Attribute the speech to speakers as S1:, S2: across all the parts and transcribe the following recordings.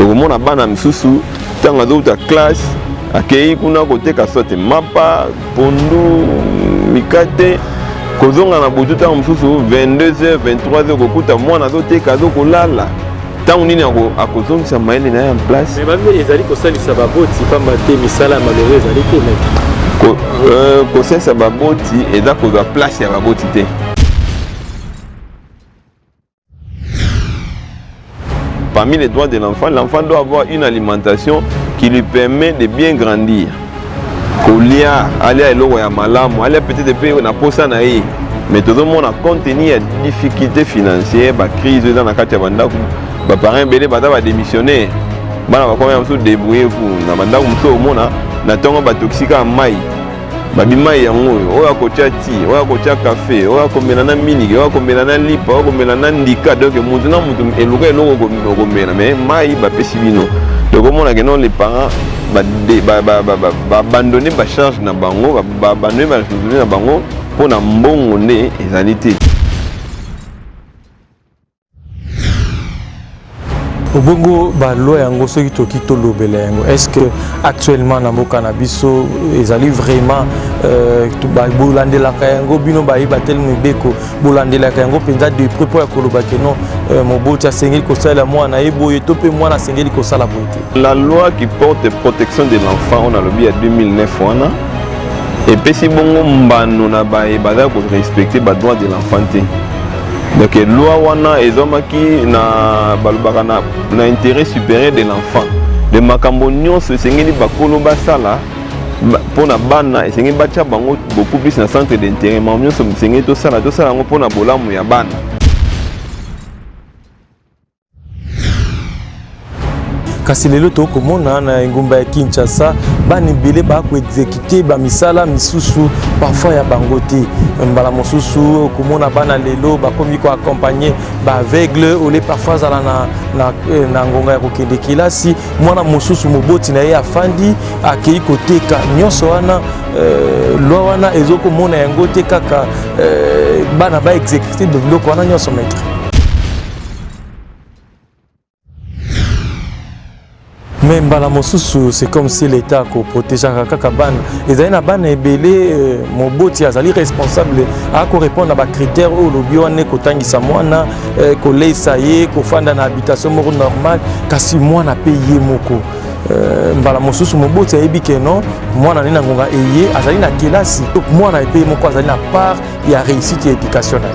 S1: tokomona bana misusu ntango azouta classe akei kuna koteka sote mapa pondu mikate kozonga na butu ntango mosusu 22h 23h kokuta mwana azoteka azokolala ntango nini akozongisa mayele na ye en place ezali kosalisa
S2: baboti mpamba te misala ya malongo ezali te euh, kosalisa
S1: baboti eza kozwa place ya baboti te Parmi les droits de l'enfant, l'enfant doit avoir une alimentation qui lui permet de bien grandir. kolia alia eloko ya malamu alia peut-être mpe na posa na ye mais tozomona compte tenu ya difficulté financière bacrise eza na kati ya bandako baparent ebele baza badémissionnaire bana bakomaya mosusu débrouille vous na bandako mosusu omona na ntongo batoxika mai babi mai yango oyo oyo akotya ti oyo akotya kafe oyo akomela na miniki oyo akomela na lipa oyo akomela na ndika donk motu na motu eluka eloko okomela mai mai bapesi bino tokomona ke non les parents babandone bacharge na bango babandone baresponsabilité na bango mpo na mbongo nde ezali te
S2: obongo baloi yango soki toki tolobela yango est ce que actuellement na mboka na biso ezali vraiment euh, bolandelaka yango bino baye bateli mibeko bolandelaka yango mpenza de près mpo ya koloba ke non euh, moboti asengeli kosalela mwana ye boye to mpe mwana asengeli kosala boye te la loi qui porte
S1: protection de l'enfant oyo nalobi ya 2009 wana epesi bongo mbano na baye bazali korespecte badroit de l'enfant te donc loi wana ezwamaki na balobaka na, na intérêt supérieur de l'enfant de makambo nyonso esengeli bakolo basala mpo na bana esengeli batya bango beaucoup plus na centre d'intérêt makambo nyonso esengeli tosala tosala yango mpo na bolamu ya bana
S2: kasi lelo tokomona na engumba ya kinshasa bana ebele bakoexekute bamisala misusu parfois ya bango te mbala mosusu okomona bana lelo bakomi koaccompagne baaveugle ole parfois azala na, na, eh, na ngonga ya kokende kelasi mwana mosusu moboti na ye afandi akei koteka nyonso wana euh, lwa wana ezokomona yango te kaka euh, bana baexekute biloko wana nyonso maitre mais mbala mosusu c'est comme si l'état akoprotegeaka kaka bana ezali na bana ebele euh, moboti azali responsable akorépondre na bacritère oyo olobi wana ekotangisa mwana euh, koleisa ye kofanda na habitation moko normale kasi mwana mpe ye moko Euh, mbala mosusu moboti ayebi ke non mwana nde na ngonga eye azali na kelasi mwana epe ye moko azali na part ya réussite ya éducation na ye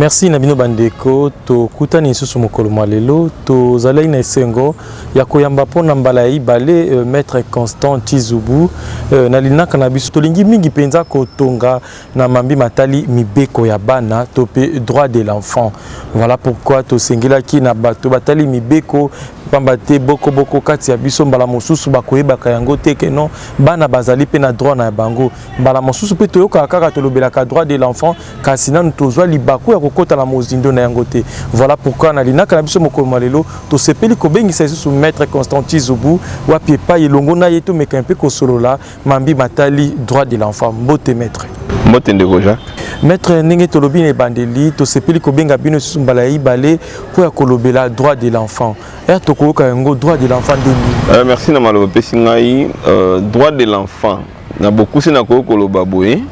S2: Merci na bino bandeko, tokutani lisusu mokolo mwa lelo. Tozalaki na esengo ya koyamba mpo na mbala ya ibale euh, maître Constant Chizubu euh, na linaka na biso. Tolingi mingi mpenza kotonga na mambi matali mibeko ya bana to mpe droit de l'enfant. Voilà pourquoi tosengelaki na bato batali mibeko pamba te boko boko kati ya biso mbala mosusu bakoyebaka yango te ke non bana bazali mpe na droit na bango mbala mosusu mpe toyokaka kaka tolobelaka droit de l'enfant kasi nanu tozwa libaku ya kokota na mozindo na yango te voilà pourquoi na linaka na biso mokolo mwa lelo tosepeli kobengisa lisusu maître constantin zubu wapi epai elongo na ye tomeka mpe kosolola mambi matali droit de l'enfant mbote maître mbote ndeko
S1: jacques maître ndenge
S2: tolobi na ebandeli tosepeli kobenga bino lisusu mbala ya ibale mpo ya kolobela droit de l'enfant ere tokoyoka yango droit de l'enfant nde nini euh, merci na maloba opesi
S1: ngai euh, droit de l'enfant Na bokuse nakoki koloba boye,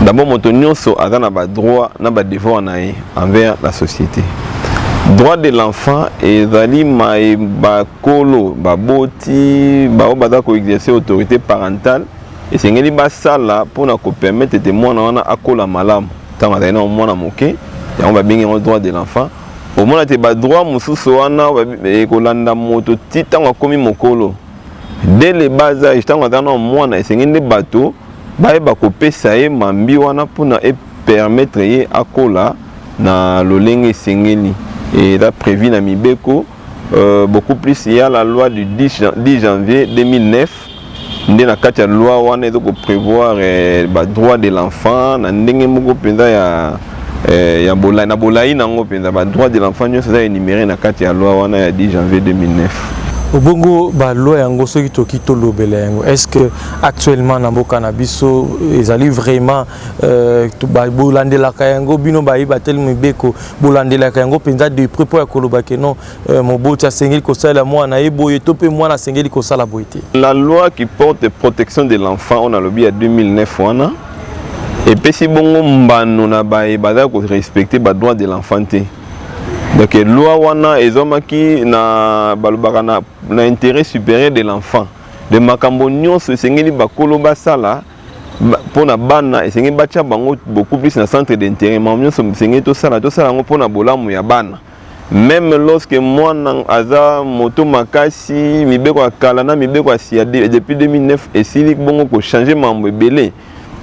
S1: d'abord moto nyonso aza na ba droit na ba devoir na ye envers la société. Droit de l'enfant ezali maye bakolo baboti baoyo baza ko exercer autorité parentale esengeli basala mpo na kopermettre ete mwana wana akola malamu ntango azali na mwana moke yango babengi yango droit de l'enfant omona te badroit mosusu wana ekolanda moto ti ntango akomi mokolo dès le bas âge ntango aza na mwana esengi nde bato bayeba kopesa ye mambi wana mpona epermettre ye akola na lolenge esengeli eza prévu na mibeko euh, beaucoup plus il y a la loi du 10, 10 janvier 2009 nde na kati ya loi wana ezo ko prévoir eh, ba droit de l'enfant na ndenge moko mpenza ya eh, ya bola, na bolai na yango mpenza badroit de l'enfant nyonso eza enumere na kati ya loi wana ya 10 janvier 2009 obongo
S2: baloi yango soki toki tolobela yango est ce que actuellement na mboka na biso ezali vraiment euh, bolandelaka yango bino bayi bateli mibeko bolandelaka yango mpenza de près mpo ya koloba ke non euh, moboti asengeli kosalela mwana ye boye to mpe mwana asengeli kosala boye te la loi qui
S1: porte protection de l'enfant oyo nalobi ya 2009 wana epesi bongo mbano na baye bazali korespecte badroit de l'enfant te donc loi wana ezwamaki na balobaka na, na intérêt supérieur de l'enfant de makambo nyonso esengeli bakolo basala mpo na bana esengeli batya bango beaucoup plus na centre d'intérêt makambo nyonso esengeli tosala tosala yango mpo na bolamu ya bana meme lorsque mwana aza moto makasi mibeko ya kala na mibeko ya sia depuis 2009 esili bongo kochange mambo ebele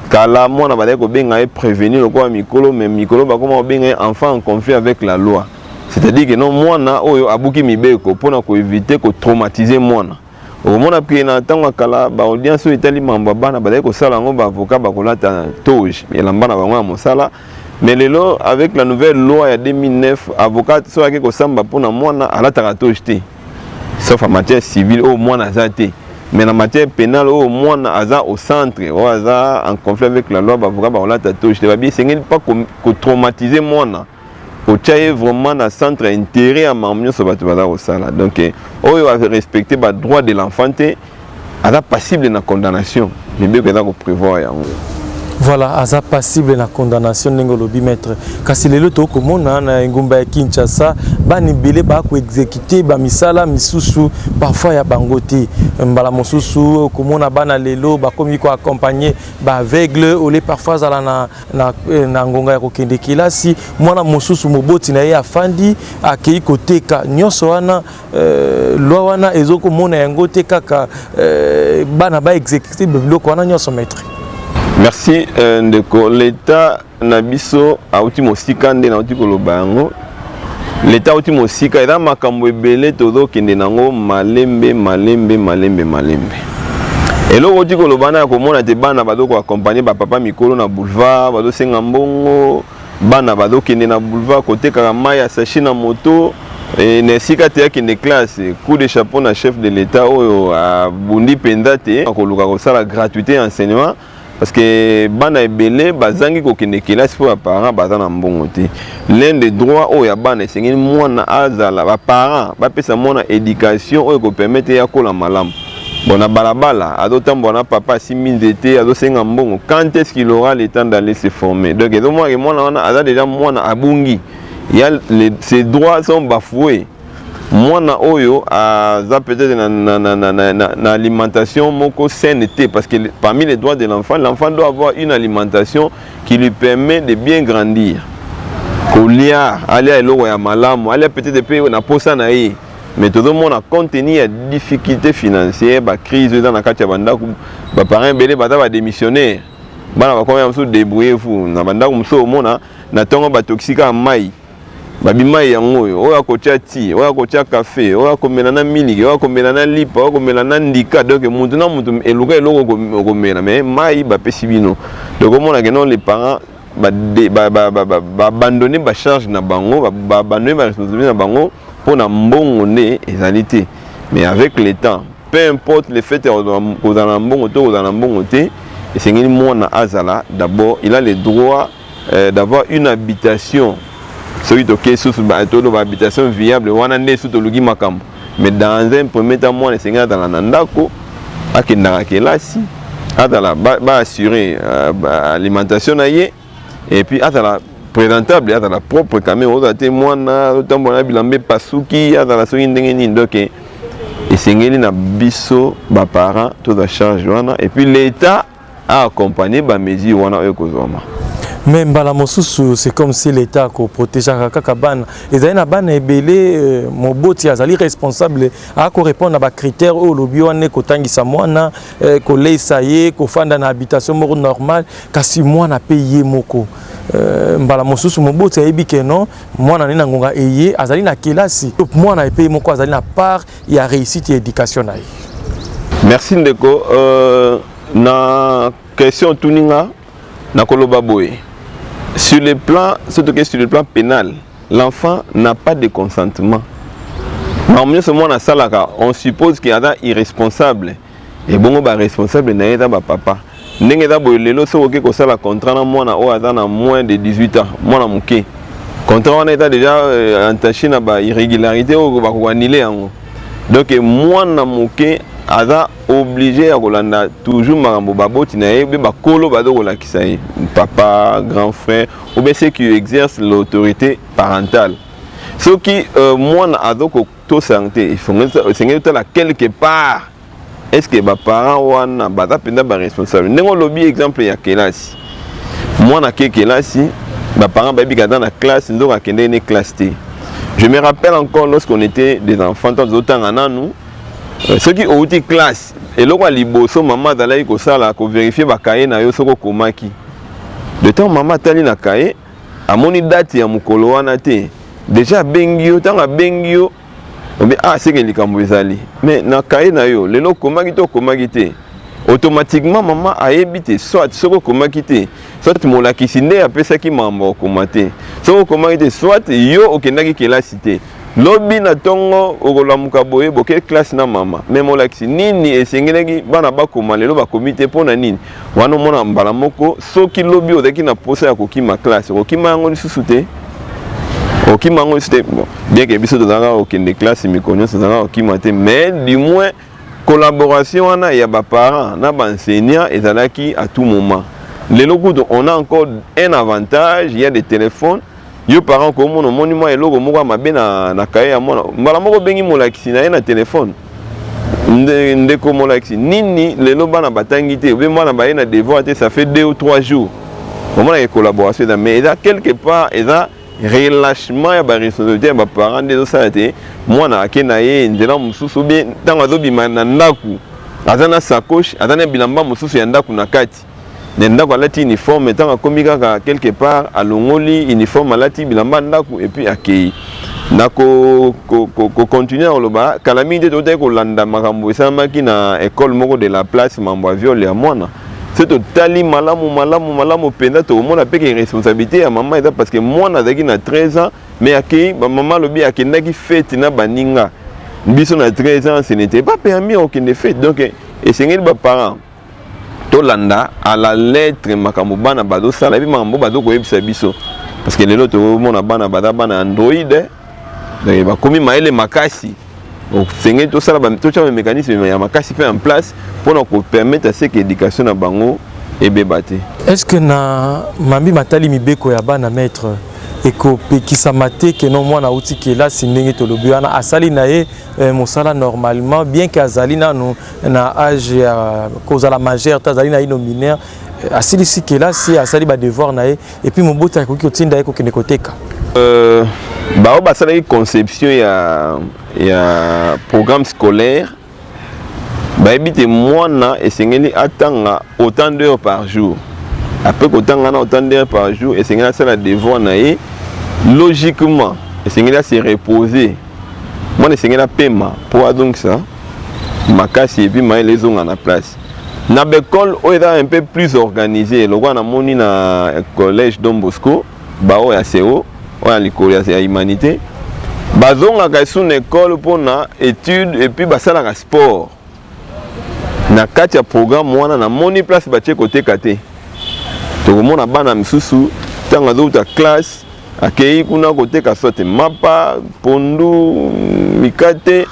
S1: kala mwana bazali kobenga ye prévenu lokola mikolo mais mikolo bakoma kobenga ye enfant en conflit avec la loi c'est-à-dire que non mwana oyo abuki mibeko mpona koevite kotraumatize mwana okomona ke na ntango ya kala baaudience oyo etali mambo ya bana bazali kosala yango baavoka bakolata toge elamba na bango ya mosala mais lelo avec la nouvelle loi ya 2009 avocat soki ake kosamba mpo na mwana alataka toge te sauf a matière civile oyo mwana aza te mais na matière pénale oyo mwana aza au centre oyo aza en conflit avec la loi baavoka bakolata toge te babi esengeli mpa kotraumatise mwana otia ye vraiment na centre ya intérêt ya makambo nyonso bato baza kosala donc eh, oyo arespecte badroit de l'enfant te aza passible na condamnation mibeko eza koprévoir yango voilà aza
S2: passible na condamnation ndenge olobi maître kasi lelo tokoki komona na engumba ya kinshasa bana ebele bakoexekute bamisala misusu parfois ya bango te mbala mosusu okomona bana lelo bakomi koaccompagne baaveugle ole parfois azala na na, eh, na ngonga ya kokende kelasi mwana mosusu moboti na ye afandi akei koteka nyonso wana eh, lwa wana ezokomona yango te kaka eh, bana ba exécute biloko wana nyonso maître merci
S1: euh, ndeko leta na biso auti mosika nde nauti koloba yango leta auti mosika eza makambo ebele tozokende nango malembe malembe malembe malembe eloko oti kolobana ya komona te bana bazokoakompagne bapapa mikolo na boulevard bazosenga mbongo bana bazokende na boulevard kotekaka mai ya sashi na moto e, na esika te akende classe coup de chapeau na chef de l'etat oyo abundi mpenza te akoluka kosala gratuité ya enseignement parce que bana ebele bazangi kokende kelasi mpo baparent baza na mbongo te l'un de droit oyo ya bana esengeli mwana azala baparent bapesa mwana éducation oyo ekopermete ye akola malamu bon na balabala azotambola na papa asimbi nzete azosenga mbongo quand est ce qu'il aura le temps d'aller se former donc ezomonake mwana wana aza déjà mwana abungi ya ses droits sont bafoués mwana oyo aza peut-être na, na, na, na, na, na, na alimentation moko saine te parce que parmi les droits de l'enfant l'enfant doit avoir une alimentation qui lui permet de bien grandir kolia alia eloko ya malamu alia peut-être mpe na posa na ye mais tozomona compte tenu ya difficulté financière bacrise oyo eza na kati ya bandako baparent ebele baza badémissionnaire bana bakomi ya mosusu débrouillez vous na bandako mosusu omona na ntongo batoxika mai babi mai yango oyo oyo akotya ti oyo akotya kafe oyo akomela na miliki oyo akomela na lipa oyo akomela na ndika donk motu na motu eluka eloko okomela mai mai bapesi bino donk omonake non le parent babandone bacharge na bango babandone baresponsabilité na bango mpo na mbongo nde ezali te mais avec le temps peu importe le fait ya kozala na mbongo to kozala na mbongo te esengeli mwana azala d'abord il a le droit euh, d'avoir une habitation soki tokei susu toloba habitation viable wana nde susu toluki makambo mais dans un premier temps mwana esengeli azala na ndako akendaka kelasi azala baassure ba euh, alimentation na ye et puis azala présentable azala propre quand même ozala te mwana otambola na bilamba epasuki azala soki ndenge nini donc esengeli na biso baparent toza charge wana et puis l'état a accompagner ba mesures wana oyo ekozwama mais mbala
S2: mosusu c'est comme si l'état akoprotegeaka kaka bana ezali na bana ebele euh, moboti azali responsable akorépondre na bacritère oyo olobi wana ekotangisa mwana euh, koleisa ye kofanda na habitation moko normale kasi mwana mpe ye moko euh, mbala mosusu moboti ayebi ke non mwana nde na ngonga eye azali na kelasi mwana epe ye moko azali na part ya reussite ya education na ye merci
S1: ndeko euh, na question otuni nga nakoloba boye sur le plan soki tokei sur le plan pénal l'enfant n'a pas de consentement makambo nyonso mwana asalaka on suppose ke aza irresponsable Ebongo ba responsable na ye eza ba papa ndenge eza boye lelo soki oke kosala contrat na mwana oyo aza na moins de 18 ans mwana moke contrat wana eza deja euh, entache na ba irrégularité oyo bakokanile yango donc mwana moke aza oblige ya kolanda toujours makambo baboti na ye mpe bakolo baza kolakisa ye papa grand frère obe ce qui exerce l'autorité parentale soki euh, mwana aza to sante esengeli otala quelque part est ce que baparent wana baza mpenza baresponsable ndenge olobi exemple ya kelasi mwana ake kelasi baparent bayebi kaza na classe nzoka akendeki ne classe te je me rappelle encore lorsqu'on était des enfants ntango tozotanga nanu euh, soki outi classe eloko ya liboso mama azalaki kosala koverifie bakaye na yo soki okomaki de temps mama atali na kaye amoni date ya mokolo wana te deja abengi yo ntango abengi yo obi ah seke likambo ezali mais na kaye na yo lelo okomaki te okomaki te automatiquement mama ayebi te soit soki okomaki te soit molakisi nde apesaki mambo okoma te soki okomaki te soit yo okendaki kelasi te lobi na ntongo okolamuka boye boke classe na mama me molakisi nini esengelaki bana bakoma lelo bakomi te mpo na nini wana omonaka mbala moko soki lobi ozalaki na mposa ya kokima classe okokima yango lisusu te okima yango lisusu te bien ke biso tozalaka kokende classe mikolo nyonso tozalaka kokima te mais du moins collaboration wana ya baparent na baenseignant ezalaki à tout moment lelo kutu on a encore un avantage ya des téléphones yo parent ko mona moni mwa eloko moko mabe na na kaye ya mwana mbala moko bengi molakisi na ye na telefone nde ndeko molakisi nini lelo bana batangi te obe mwana baye na devoir te ça fait deux ou trois jours omona ye collaboration eza mais eza quelque part eza relâchement ya ba responsabilité ya ba parents nde ezosala te mwana ake na ye nzela mosusu obie ntango azobima na ndako aza na sacoche aza na bilamba mosusu ya ndako na kati kati na ndako alati uniforme ntango akomi kaka quelque part alongoli uniforme alati bilamba ya ndako epuis akei na kocontinue ko, ko, koloba kala mingi te totaki kolanda makambo esalamaki na ekole moko de la place mambo ya viole ya mwana soki totali malamu malamu malamu mpenza tokomona mpe ke responsabilité ya mama eza parce que mwana azalaki na 13 ans mais akei bamama alobi akendaki fete na baninga biso na 13 ans ce n'était pas permis okende fete donc esengeli baparent tolanda à la lettre makambo bana bazosala epe makambo bazokoyebisa biso parce que lelo tokomona bana baza bana android donc bakomi mayele makasi osengeli tosala totya bamécanisme ya makasi mpe en place mpo na kopermettre seke éducation na bango ebeba te est ce que na
S2: mambi matali mibeko ya bana maître ekopekisama te ke no mwana auti kelasi ndenge tolobi wana asali na ye eh, mosala normalement bien ke azali nanu na age ya kozala majeur to azali naino mineur euh, asilisi kelasi asali badevoir na ye epuis moboti akoki kotinda ye kokende koteka euh,
S1: baoyo basalaki conception ya, ya programme scolaire bayebi te mwana esengeli atanga autant d'heure par jour apres kotanga na autant d'heure par jour esengeli asala devoir na ye logiquement esengeli ase reposer mwana esengeli apema mpo adongisa makasi et puis mayele ezonga na place na bacole oyo eza un peu plus organisé lokola namoni na collège don bosco baoyo ya seo oyo ya likolo ya humanité bazongaka esu na ekole mpo na étude epuis basalaka sport na kati ya programme wana namoni place batie koteka te tokomona bana misusu ntango azowuta classe Akeyi kuna koteka soit mapa, pondu, mikate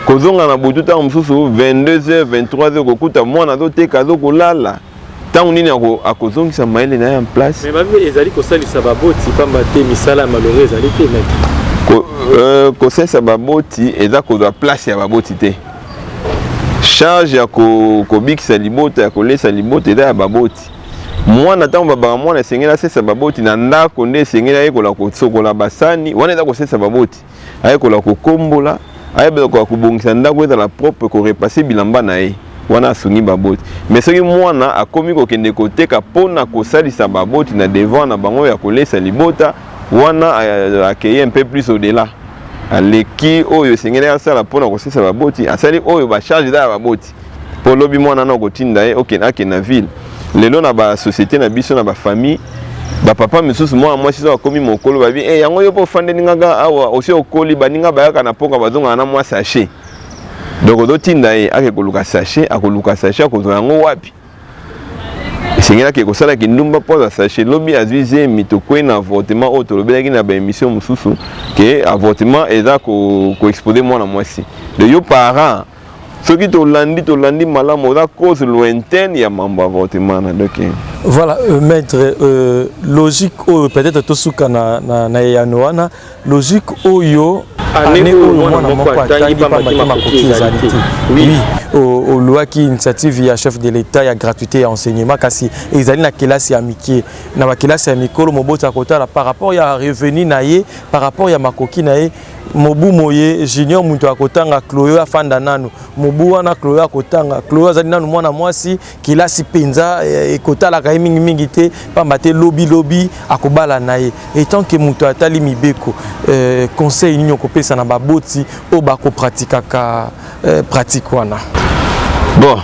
S1: kozonga na butu ntango mosusu 22h 23h kokuta mwana azoteka azokolala ntango nini akozongisa mayele na ye en place ezali kosalisa
S2: baboti mpamba te misala ya malonga ezali te euh, kosalisa
S1: baboti eza kozwa place ya baboti te charge ya kobikisa libota ya kolesa libota eza ya baboti mwana ntango babaka mwana esengeli asesa baboti na ndako nde esengeli ayekola kosokola basani wana eza kosesa baboti ayekola kokombola ayekola kobongisa ndako ezala propre korepase bilamba na ye wana asungi baboti me soki mwana akomi kokende koteka mpo na kosalisa baboti na devoir na bango ya kolesa libota wana akeye un peu plus au-delà aleki oyo esengeli asala mpo na kosesa baboti asali oyo bacharge eza ya baboti po lobi mwana na okotinda ye okende ake na ville lelo na ba société na biso na ba famille ba papa misusu mwana mwasi soki akomi mokolo babi e eh, yango yo mpe ofandeli ngaka awa osi okoli baninga bayaka na poka bazongaka na mwa sachet donc ozotinda ye ake koluka sachet akoluka sachet akozwa yango wapi esengeli ake kosala kindumba mpo aza sachet lobi azwi zemi tokwei na avortement oyo tolobelaki na baémission mosusu ke avortement eza koexpose ko mwana mwasi de yo parent soki tolandi tolandi malamu oza cause lointaine ya mambo avortement na doki voilà euh,
S2: maître euh, logique oyo peut-être tosuka na, na, na eyano wana logique oyo ane oyo mwana moko atangi pamba te makoki ezali te oui olwaki initiative ya chef de l'état ya gratuité ya enseignement kasi ezali na kelasi ya mike na bakelasi ya mikolo moboti akotala par rapport ya revenu na ye par rapport ya makoki na ye mobu moye junior moto ya kotanga cloyo afanda nanu mobu wana cloyo akotanga cloyo azali nanu mwana mwasi kelasi mpenza eh, ekotalaka ye mingimingi te mpamba te lobilobi akobala na ye etant ke moto atali mibeko eh, conseil nini okopesa na baboti oyo bakopratikaka eh, pratike wana bon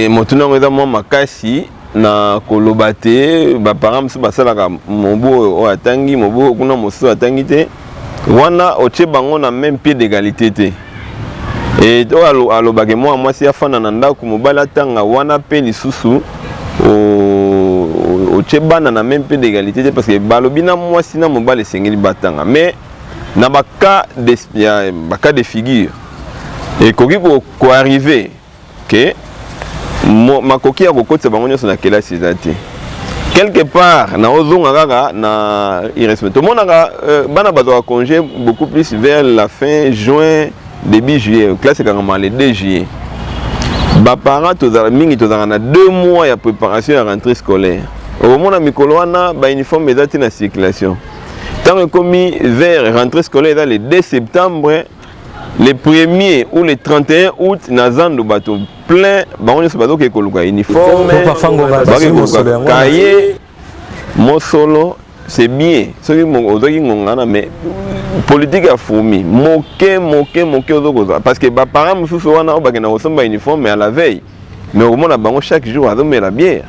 S1: motuna yango eza mwa makasi na koloba te baparent mosusu basalaka mobu oyo oyo atangi mobu oyo kuna mosusu atangi te wana otye bango na meme pied d'égalité te e oyo alobake mwana mwasi afanda na ndako mobali atanga wana mpe lisusu otye bana na meme pied d'égalité te parce que balobi na mwasi na mobali esengeli batanga mais na bacas de, bacas de figure ekoki koarrive ko que makoki ya kokotisa bango nyonso na kelasi eza te quelque part na ozonga kaka na irrespect tomonaka euh, bana bazwaka congé beaucoup plus vers la fin juin début juillet classe ekangama le 2 juillet baparent tozala mingi tozalaka na deux mois ya préparation ya rentrée scolaire okomona mikolo wana bauniforme eza ti na circulation ntango ekomi vers rentrée scolaire eza le 2 septembre le premier ou le 31 août na zando bato plein bango nyonso bazokee koluka uniforme bakee koluka kaye mosolo c'est bien soki ozwaki ngonga wana mais politike ya fourmi moke moke moke ozokozwa parce que baparent mosusu wana oyo bakenda kosomba uniforme ya la veille mais okomona bango chaque jour azomela biere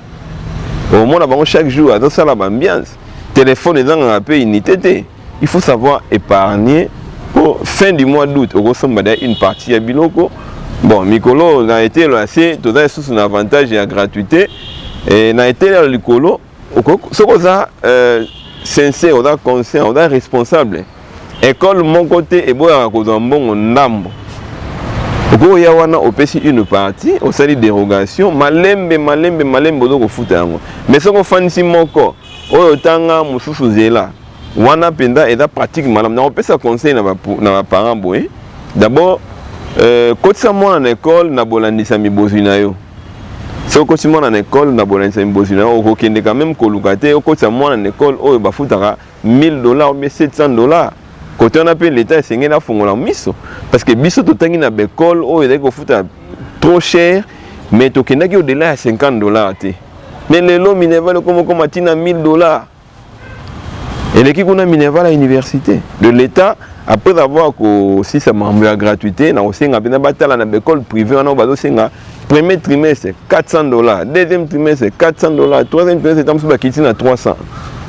S1: okomona bango chaque jour azosala baambiance telefone ezangaka mpe unité te il faut savoir épargner po fin du mois d'août okosomba da une partie ya biloko bon mikolo na etelo ya se toza lisusu na avantage ya gratuité e, na etelo ya likolo soki oza euh, sincère oza conscient oza responsable ekole moko te eboyaka kozwa mbongo ndambo okoki oya wana opesi une partie osali dérogation malembe malembe malembe ozo kofuta yango mais soki ofandisi moko oyo otanga mosusu zela wana mpenza eza pratique malamu nakopesa conseil na baparent boye d'abord euh, kotisa mwana na ekole na bolandisami bozwi na yo soki okotisi mwana na ekole na bolandisami bozwi na yo okokendeka meme koluka te okotisa mwana na ekole oyo bafutaka 1000 dollars obie 700 dollars kote wana mpe leta esengeli afongola miso parce que biso totangi na baekole oyo ezali kofuta trop cher mais tokendaki odela ya 50 dollars te mais lelo minerval ekomokoma ntina 1000 dollars eleki kuna minerval ya université de l'état après avoir kosisa makambo ya gratuité na kosenga mpenza batala na baekole privé wana oyo bazosenga premier trimestre 400 dollars deuxième trimestre 400 dollars troisième trimestre ntango mosusu bakiti na 300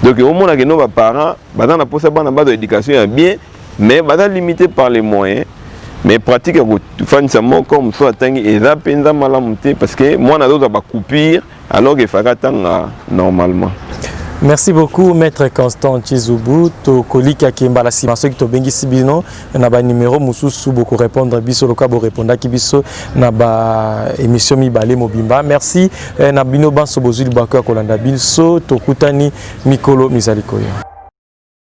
S1: donc omona keno baparent baza na mposa bana bazwa éducation ya bien mais baza limité par les moyens mais pratique ya kofandisa moko mosusu atangi eza mpenza malamu te parce que mwana azozwa bacoupure Alors que Faka tanga normalement. merci
S2: beaucoup maître constant chizubu tokolika ke mbala nsima soki tobengisi bino na banimero mosusu bokorépondre biso lokola borépondaki biso na baémission mibale mobimba merci eh, na bino banso bozwi libwako ya kolanda biso tokutani mikolo mizali koya